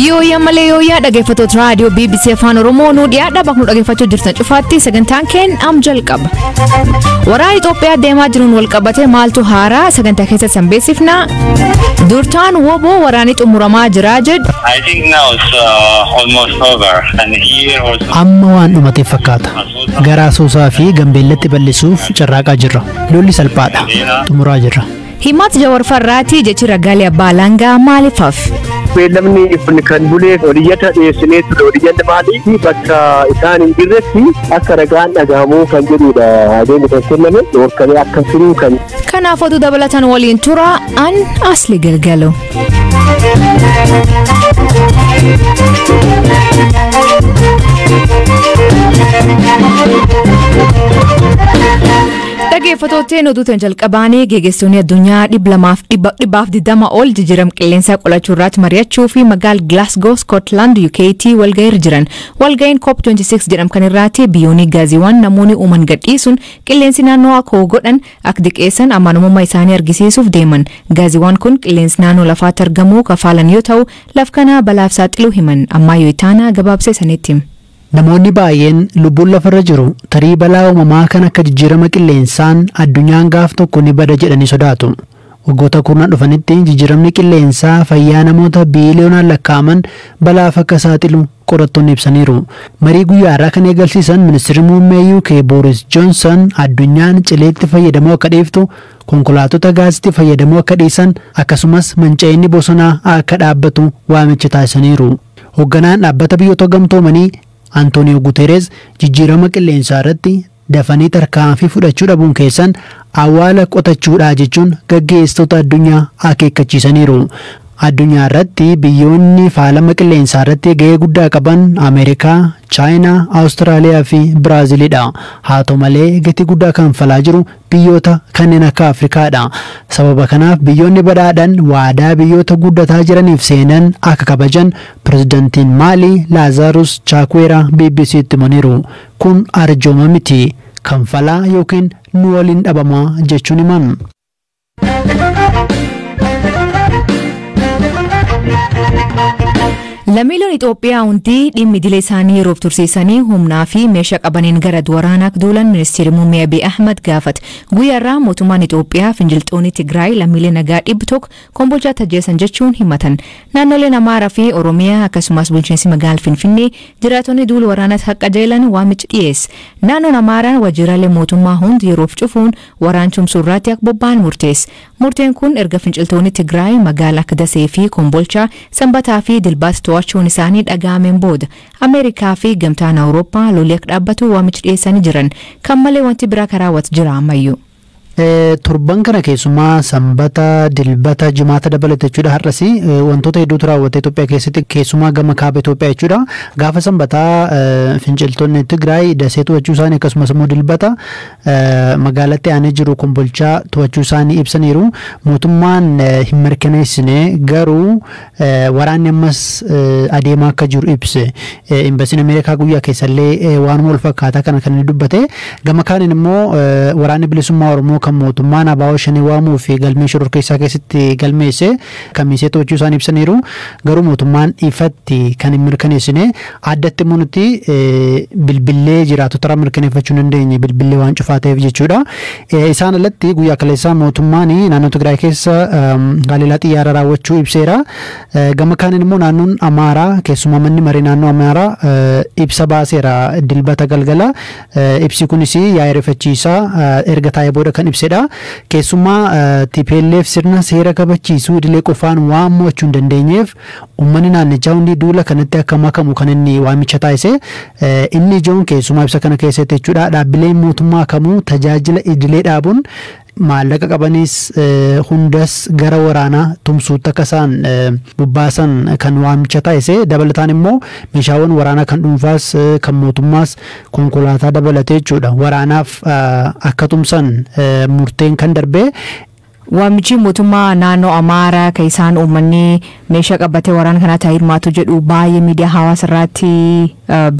Yooyyaa malee yooyyaa dhaggeeffattoota raadiyoo BBC Afaan Oromoo nu dhiyaadha bakka nu dhaggeeffachuu jirtan cufaatti sagantaan keenya am jalqaba. Waraana Itoophiyaa deemaa jiruun wal qabatee maaltu haaraa sagantaa keessatti san beeksifna. Durtaan woboo waraanii xumuramaa jira jedhu. I think now it's uh, almost over, and here was Amma waan dhumateef fakkaata. Gara Asoosaa fi Gambeellatti bal'isuuf carraaqaa jirra. Lolli salphaadha. Xumuraa jirra. Himat Jawar Farraati jechi ragaalee abbaa alangaa maaliif hafe? beellamni kun kan buleef oliyyata dhiyeessinee ture oliyyanni maaliif bakka isaan hin jirretti akka ragaan dhagahamuu kan jedhudha adeemni kan kenname dhorkamee akka turuu kan Kanaaf oduu dabalatan waliin tura an asli galgalu. Dhaggeeffattootteen oduutan jalqabaanii geggeessitoonni addunyaa dhibba lamaaf dhibba dhibbaaf digdama ol jijjiirama qilleensaa qolachuu irratti mari'achuu fi magaal Glasgow Scotland UKT walga'iirra jiran. Walga'iin COP26 jedhamu kan irratti biyyoonni gaaziiwwan namoonni uuman gadhiisuun Qilleensi naannoo akka ho'u godhan, akka diqeessan, amanamumma isaanii argisiisuuf deeman. Gaaziwwaan kun qilleensi naannoo lafaatti argamuu ka faalan yoo ta'u, laf kanaa balaaf saaxiluu himan. Ammaayyo Itaana gabaabsee isanitti hima. Namoonni baay'een lubbuun lafarra jiru tarii balaa uumamaa kan akka jijjiirama qilleensaan addunyaan gaaf tokko ni bada jedhanii sodaatu. Waggoota kurnan dhufanitti jijjiiramni qilleensaa fayyaa namoota biiliyoonaan lakkaa'aman balaaf akka saaxilu qorattoonni ibsaniiru. Marii guyyaa har'aa kan eegalsiisan Ministirri Muummee UK Booris Joonsan addunyaan cileetti fayyadamuu akka dhiiftu, konkolaatota gaasitti fayyadamuu akka dhiisan, akkasumas manca'inni bosonaa akka dhaabbatu waamicha taasisaniiru. Hogganaan Dhaabbata Biyyoota Gamtoomanii Antooniyoo Guteereez jijjiirama qilleensaarratti Dafanii tarkaanfii fudhachuu dhabuun keessan awwaala qotachuudha jechuun gaggeessitoota addunyaa akeekkachiisaniiru. Addunyaarratti biyyoonni faalama qilleensaarratti gahee guddaa qaban Ameerikaa, Chaayinaa, Awustiraaliyaa fi Biraazilidha. Haa ta'u malee gatii guddaa kanfalaa jiru biyyoota kanneen akka Afrikaadha. Sababa kanaaf biyyoonni badhaadhan waadaa biyyoota guddataa jiraniif seenan akka kabajan Pirezidantiin Maalii Laazaarus Chaakweeraa BBC'tti himaniiru. Kun arjooma miti. Kanfalaa ykn nu waliin dhabamaa jechuun himan. Lammiileen Itoophiyaa hundi dhimmi idilee isaanii yeroof tursiisanii humnaa fi meeshaa qabaniin gara waraanaa akka duulan ministeerri muummee Abiy Ahmad gaafate. Guyyaa irraa mootummaan Itoophiyaa finciltoonni Tigraay lammiilee nagaa dhibbi tokko Kombolchaatti ajjeesan jechuun himatan. Naannoleen Amaaraa fi Oromiyaa akkasumas bulchiinsi magaal Finfinnee jiraatonni duul waraanat haqqajeelan waamichi dhiyeesse. Naannoon Amaaraa wajiiraalee mootummaa hund yeroof cufuun waraan tumsuu irraatti ak bobba'an murteesse. Murteen kun erga finciltoonni Tigraay magaal ak Dasee fi Kombolchaa Sambataa fi Dilbaat to'achuun isaanii dhaga'ameen booda. Ameerikaa fi Gamtaan Awurooppaa loli ak dhaabbatu waamichi dhiyeessanii jiran. Kan malee wanti biraa ka raawwat jira ammayyuu. Torban kana keessumaa Sanbata, Dilbata, Jimaata dabalate jechuudha har'as wantoota hedduutu raawwate Itoophiyaa keessatti keessumaa gama kaaba Itoophiyaa jechuudha. Gaafa Sanbataa finciltoonni Tigraay dasee to'achuu isaanii akkasumas immoo Dilbata magaalatti aanee jiru kombolchaa to'achuu isaanii ibsaniiru. Mootummaan hin mirkaneessine garuu Waraanni ammas adeemaa akka jiru ibse. Imbasiin Ameerikaa guyyaa keessallee waanuma wal fakkaataa kana kan inni dubbate. Gama kaaniin immoo waraanni bilisummaa Oromoo kan mootummaan Abaawoo Shanee waamuu fi galmee shororkeessaa keessatti galmeesse kamiisee to'achuu isaan ibsaniiru. Garuu mootummaan ifatti kan hin mirkaneessine. Addatti immoo nuti bilbillee jiraattotarraa mirkaneeffachuu hin dandeenye bilbillee waan cufaa ta'eef jechuudha. Isaan alatti guyyaa kaleessaa mootummaan naannoo Tigraay keessa haleellaa xiyyaaraa raawwachuu ibseera. Gama kaaniin immoo naannoon Amaaraa keessumaa manni maree naannoo Amaaraa ibsa baaseera dilbata galgala. Ibsi kunis yaa'ii rifachiisaa erga taa'ee booda kan ibsedha. Keessumaa TPLF sirna seera kabachiisuu idilee qofaan waan mo'achuu hin dandeenyeef Uummanni naannichaa hundi duula kanatti akka makamu kan inni waamicha taasise inni ijoon keessumaa ibsa kana keessatti jechuudha dhaabbileen mootummaa kamuu tajaajila idilee dhaabuun maallaqa qabanis hundas gara waraanaa tumsuutti akka isaan bobbaasan kan waamicha taasise dabalataan immoo meeshaawwan waraanaa kan dhuunfaas kan mootummaas konkolaataa dabalatee jechuudha waraanaaf akka tumsan murteen kan darbee Waamichii motummaa naanoo Amaara ka isaan uummannii meesha qabbatee waraana kanaatti haa hirmaatu jedhu baayee miidiyaa hawaasa irraatti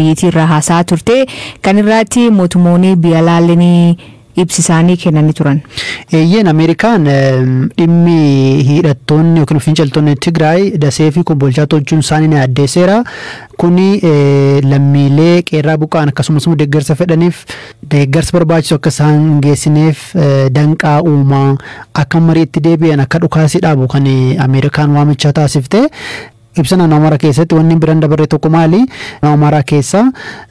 biyyitii irraa haasa'aa turtee kan irraatti motumoonii biyalaallenii ibsi isaanii kennani turan. Eeyyeen Ameerikaan dhimmi hiidhattoonni yookiin finciltoonni Tigraay dasee fi kombolchaa tolchuun isaanii ni addeesseera. Kuni lammiilee qeerraa buqqa'an akkasumas immoo deeggarsa fedhaniif deeggarsi barbaachisu akka isaan hin geessineef danqaa uuma. Akka mariitti deebi'an akka dhukaasi dhaabu kan Ameerikaan waamicha taasifte. Ibsa naannoo Amaaraa keessatti wanni biran dabarre tokko maali? Naannoo Amaaraa keessa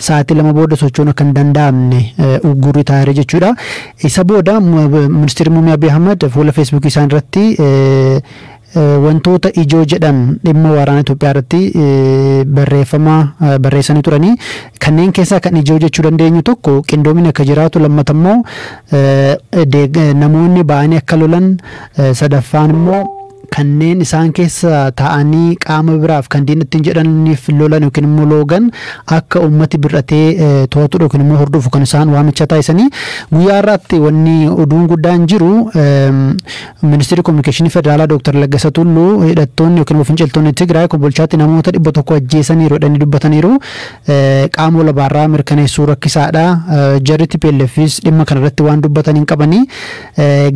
sa'aatii lama booda socho'uun akka hin danda'amne uggurri taa'eera jechuudha. Isa booda ministeerri muummee Abiy Ahmad fuula feesbuukii isaan irratti Wantoota ijoo jedhan dhimma waraana Itoophiyaa irratti barreeffama barreessanii turani. Kanneen keessaa kan ijoo jechuu dandeenyu tokko qindoomina akka jiraatu lammata immoo namoonni ba'anii akka lolan sadaffaan immoo kanneen isaan keessa taa'anii qaama biraaf kan diina ittiin jedhaniif lolan yookiin immoo loogan akka uummati bir'atee to'atu yookiin immoo hordofu kan isaan waamicha taasisanii guyyaa irraatti wanni oduun guddaan jiru Ministirri Kominikeeshinii Federaalaa Dooktar Laggasa Tulluu hidhattoonni yookiin immoo finciltoonni Tigraay Kombolchaatti namoota 100 ajjeesaniiru jedhanii dubbataniiru. Qaama walabaarraa mirkaneessuu rakkisaadha. Jarri TPLFis dhimma kanarratti waan dubbatan hin qabani.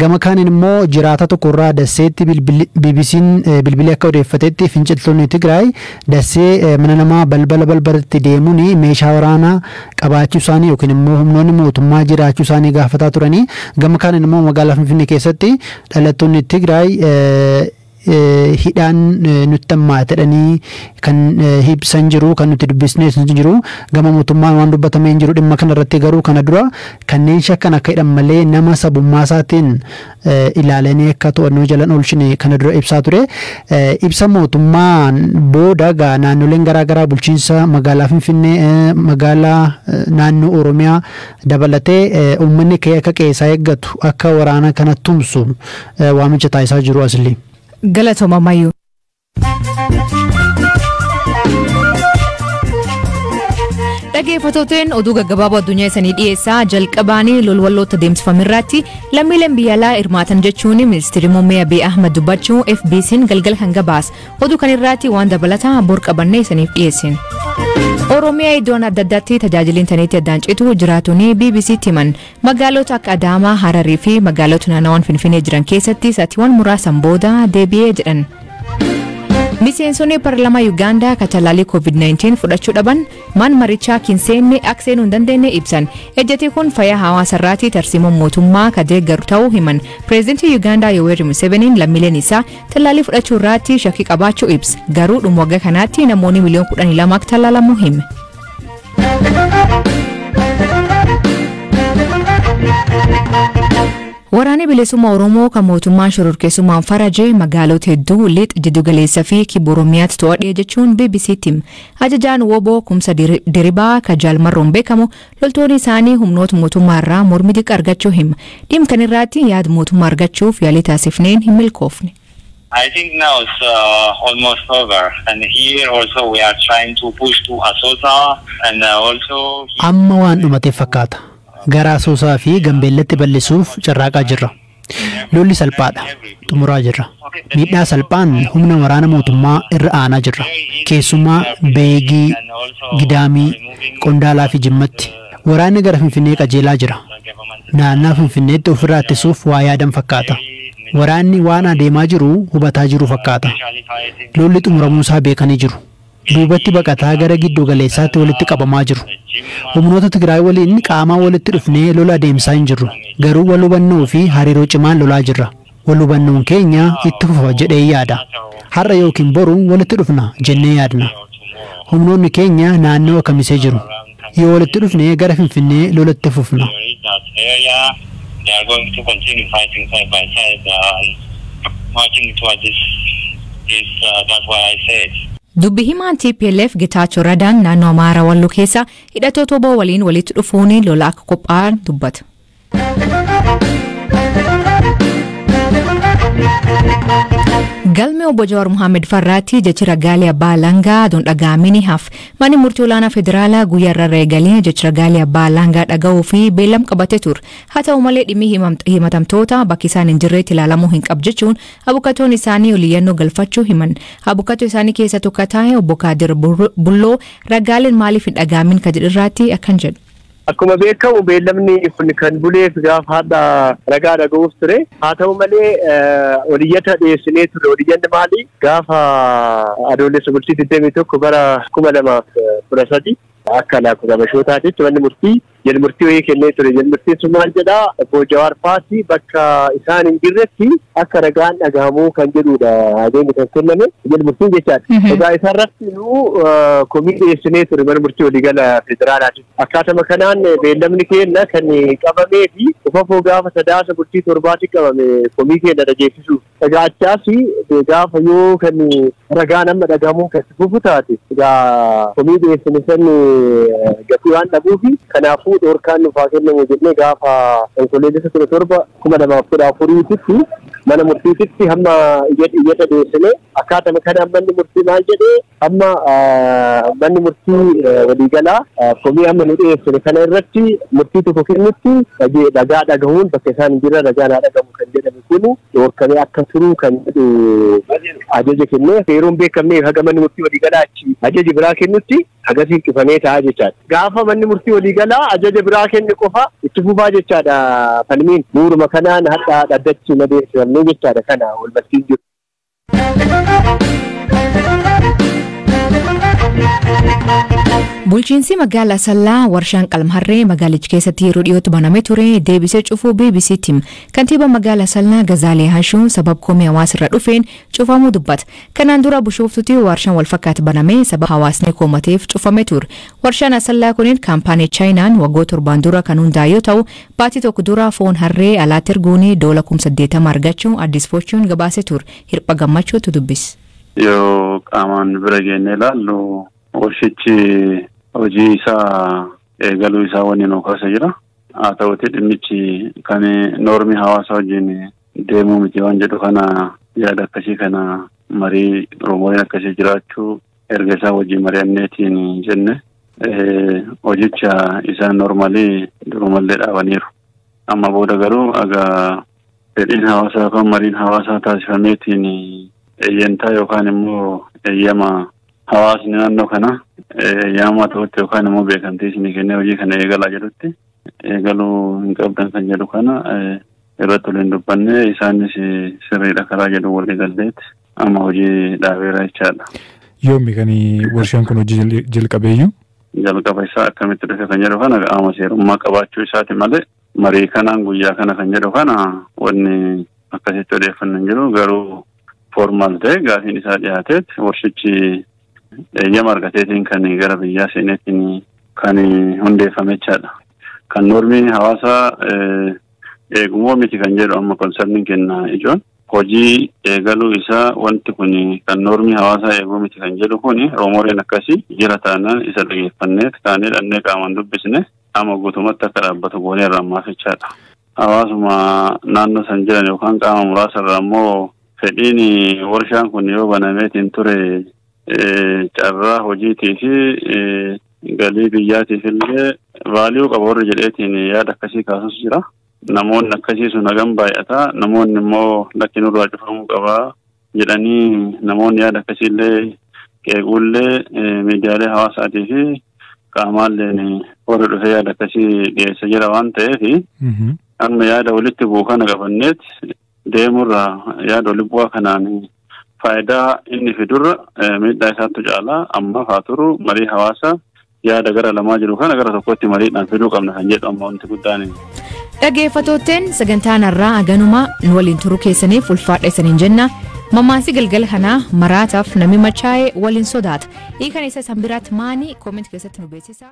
Gama kaaniin immoo jiraataa tokkorraa Dasseetti BBC'n bilbilee akka odeeffatetti finciltoonni Tigraay Dassee mana namaa balbala balbalatti deemuun meeshaa waraanaa qabaachuu isaanii yookiin immoo humnoonni mootummaa jiraachuu isaanii gaafataa turanii, gama kaaniin immoo magaalaa Finfinnee keessatti dhalattoonni Tigraay hidhaan nutti hammaate jedhanii kan ibsan jiru, kan nuti dubbisnes ni jiru. Gama mootummaan waan dubbatame hin jiru dhimma kana irratti garuu kana dura kanneen shakkan akka hidhan malee nama sabummaa isaatiin ilaalenee akka to'annoo jalan oolchine kana dura ibsaa ture. Ibsa mootummaan booda egaa naannoleen garaa garaa bulchiinsa magaalaa Finfinnee, magaalaa naannoo Oromiyaa dabalatee uummanni ka'ee akka qe'ee isaa eeggatu, akka waraana kana tumsu waamicha taasisaa jiru Aslii. Galatoma Mayu. Dhageeffatooteen oduu gaggabaaboo addunyaa isanii dhiyeessaa jalqabaanii lolwalloota deemsifame irratti lammiileen biyya alaa hirmaatan jechuun ministeerri muummee Abiy Ahmad dubbachuu FBC'n galgala kan gabaas oduu kan irratti waan dabalataa bor qabannee isaniif dhiyeessin. Oromiyaa iddoon adda addaatti tajaajila intarneetii addaan citu jiraatonni BBC'tti himan Magaalota akka Adaamaa, Hararii fi magaalota naannawan Finfinee jiran keessatti sa'atiiwwan muraasan booda deebi'ee jedhan. Miseensonni parlamaa Yugaandaa katalaalii COVID-19 fudhachuu dhaban maan marichaa kin seenne akka seenuu hin dandeenye ibsan. Ejjetii kun fayyaa hawaasa irraatii tarsiimoon mootummaa ka deeggaru ta'uu himan. Pireezidantii Yugaandaa Yoweri Museveniin lammiileen isaa talaalii fudhachuu irraatti shakkii qabaachuu ibsa. Garuu dhuma waggaa kanaatti namoonni miliyoon 12 akka talaalamu hime. Waraanni bilisummaa Oromoo kan mootummaan shororkeessummaan faraje magaalota hedduu lix jiddugaleessa fi kibba Oromiyaatti to'adhe jechuun BBC'tti hima. Ajajaan Woboo Kumsa Diri- Diribaa kan Jaalmarroon beekamu loltoonni isaanii humnoota mootummaa irraa mormi xiqqa argachuu hima. Dhimma kana irratti yaada mootummaa argachuuf yaalii taasifneen hin milkoofne. I think now it's uh, almost over and here also we are trying to push to Asosa and uh, also Amma waan dhumatee fakkaata. Gara Asoosaa fi Gambeellatti bal'isuuf carraaqaa jirra. Lolli salphaadha. Xumuraa jirra. Miidhaa salphaan humna waraana mootummaa irra aanaa jirra. Keessumaa Beegii, Gidaamii, Qondaalaa fi Jimmatti. Waraanni gara Finfinnee qajeelaa jira. Naannaa Finfinneetti ofirraa ittisuuf waa yaadan fakkaata. Waraanni waan adeemaa jiru hubataa jiru fakkaata. Lolli xumuramuusaa beekanii jiru. Duubatti baqataa gara giddu galeessaatti walitti qabamaa jiru. Humnoota Tigraay waliin qaamaan walitti dhufnee lola adeemsaa hin jirru. Garuu wal hubannoofi hariiroo cimaan lolaa jirra. Wal hubannoon keenya itti fufa jedheen yaada. Har'a ykn boru walitti dhufna jennee yaadna. Humnoonni keenya naannawa Kamisee jiru. Yoo walitti dhufne gara Finfinnee lola itti fufna. Dubbi himaan tplf Getaachoo Radaan naannoo Amaaraa Walloo keessaa hidhatoota wbo waliin walitti dhufuun lola akka qophaa'an dubbata. Galmi obbo Jawaar Mohaammed Farraatti jechi ragaalee abbaa alangaa aduun dhaga'amee ni hafa. Manni murtii olaanaa federaalaa guyyaa irraa eegalee jechi ragaalee abbaa alangaa dhaga'uu fi beellam qabatee ture. Haa ta'u malee dhimmi himatamtoota bakki isaan hin jirreetti ilaalamuu hin qabu jechuun abukatoon isaanii oliyyannoo galfachuu himan. Abukatoo isaanii keessa tokko taa'e obbo Kaadir Bulloo ragaaleen maaliif hin dhaga'amin ka jedhirraatti akkan jedhu. Akkuma beekamu beellamni kun kan buleef gaafa hadha ragaa dhaga'uuf ture. Haa ta'u malee oliyyata dhiyeessinee turre. Oliyyanni maali? Gaafa Adoolessa bultii 21 bara 2013 akka lakkoofsa Habashootaatitti manni murtii jal murtii wayii kennee ture. Jal murtiin sun maal jedha? Obbo Jawaar Faati bakka isaan hin jirretti akka ragaan dhagahamuu kan jedhudha adeemni kan kenname. Jal murtiin jechaadha. Egaa isarratti nu komii dhiyeessinee ture mana murtii waliigala federaalaati. Akkaatama kanaan beellamni keenna kan qabamee fi qufafoo gaafa Sadaasa bultii torbaati qabame komii keenna dhageessisuuf. Egaa achaas gaafa yoo kan ragaan amma dhagahamuun kan itti fufu taate egaa komii dhiyeessine san gatii waan dhabuufi kanaafuu dhoorkaan nuuf haa kennamu jennee gaafa Onkoloolessa 17, 2014 titti mana murtiititti hamma iyyata dhiyeessinee Akkaatama kanaan manni murtii maal jedhe amma manni murtii waliigalaa komii amma nu dhiyeessine kana irratti murtii tokko kennutti ragaa dhagahuun bakka isaan hin jirre ragaan haa dhagahu kan jedhame kun dhorkamee akka turu kan jedhu ajaja kenne yeroo hin beekamne haga manni murtii waliigalaa achi ajaja biraa kennutti agasiin cufamee ta'a jechaadha. Gaafa manni murtii waliigalaa ajaja biraa kenne qofa itti fufaa jechaadha falmiin bu'uuruma kanaan hadhaa dhaddachi madeessamne jechaadha kana walbarsiin jiru. Bulchiinsi magaala Asallaa warshaan qalmharree magaalicha keessatti yeroo dhiyootti baname ture deebisee cufuu BBC tim kantiibaa magaala Asallaa Gazaalee Hashuun sabab komii hawaasirra dhufeen cufamuu dubbata. Kanaan dura bushooftutti warshaan walfakkaatu baname sabab hawaasni koomateef cufame ture. Warshaan Asallaa kunin kaampaanii Chaayinaan waggoota torbaan dura kan hundaa'e yoo ta'u Baatii tokko dura foon harree alaatti erguun doola kum 80 argachuu Addis Fortune gabaase tur. Hirpha Gammachuu tu dubbis. Yoo qaamaan bira geennee ilaallu warshichi hojii isaa eegaluu isaa wanni nu kaasa jira. Haa ta'uti dhimmichi kan noormii hawaasa wajjin deemuu miti waan jedhu kana yaada akkasii kana marii rumoriin akkasii jiraachuu erga isaa wajjin mari'anneetiin jenne hojicha isaa noormaalii durumallee dhaabaniiru. Amma booda garuu egaa fedhiin hawaasaa yookaan mariin hawaasaa taasifameetiin eeyyantaa yookaan immoo eeyyama hawaasni naannoo kana eeyyama ta'utti yookaan immoo beekamtii isinii kennee hojii kana eegalaa jedhutti eegaluu hin qabdan kan jedhu kana irratti waliin dubbanne isaanis sirriidha karaa jedhu walii galleetti amma hojii dhaabeera jechaadha. Yoommi kan warshaan kun hojii jalqabeeyyu? Jalqaba isaa akkamitti dhufe kan jedhu kana qaama seerummaa qabaachuu isaati malee marii kanaan guyyaa kana kan jedhu kana wanni akkasitti odeeffannu hin jiru garuu formaal ta'e gaafiin isaa dhiyaateet warshichi eeyyama argateetiin kan gara biyyaa seeneetiin kan hundeeffame jechaadha. Kan noormiin hawaasaa eegumoo miti kan jedhu amma konsarniin kenna ijoon. Hojii eegaluu isaa wanti kun kan noormii hawaasaa eeguu miti kan jedhu kun roomoreen akkasii jira taanaan isa dhageeffanneet kaanee dhannee qaamaan dubbisne amma guutumatti akka dhaabbatu goonee irraa maafichaadha. Hawaasuma naannoo san jiran yookaan qaama muraasa irraa immoo fedhiin warshaan kun yoo banameetiin ture carraa hojiitii fi galii biyyaatiif illee vaaliyuu qaba warri jedheetiin yaada akkasii kaasus jira. Namoonni akkasii sun hagam baay'ata. Namoonni immoo lakki nurraa cufamuu qaba jedhanii namoonni yaada akkasii illee qeequullee miidiyaalee hawaasaatii fi qaamaalleen warri dhufee yaada akkasii dhiyeessa jira waan ta'eef amma yaada walitti bu'u kana qabanneet deemurra yaada walibu'aa kanaan faayidaa inni fidurra miidhaa isaattu caalaa ammaaf haa turu marii hawaasa yaada gara lamaa jiru kana gara tokkotti mariidhaan fiduu qabna kan jedhu amma wanti guddaan. Dhageeffattootteen sagantaan har'aa aganuma nu waliin turuu keessaniif ulfaadha isaniin jenna. Mammaasii galgala kanaa maraataaf namni machaa'ee waliin sodaata. Hiikan isa isan biraatti maanii kooment keessatti nu beeksisa.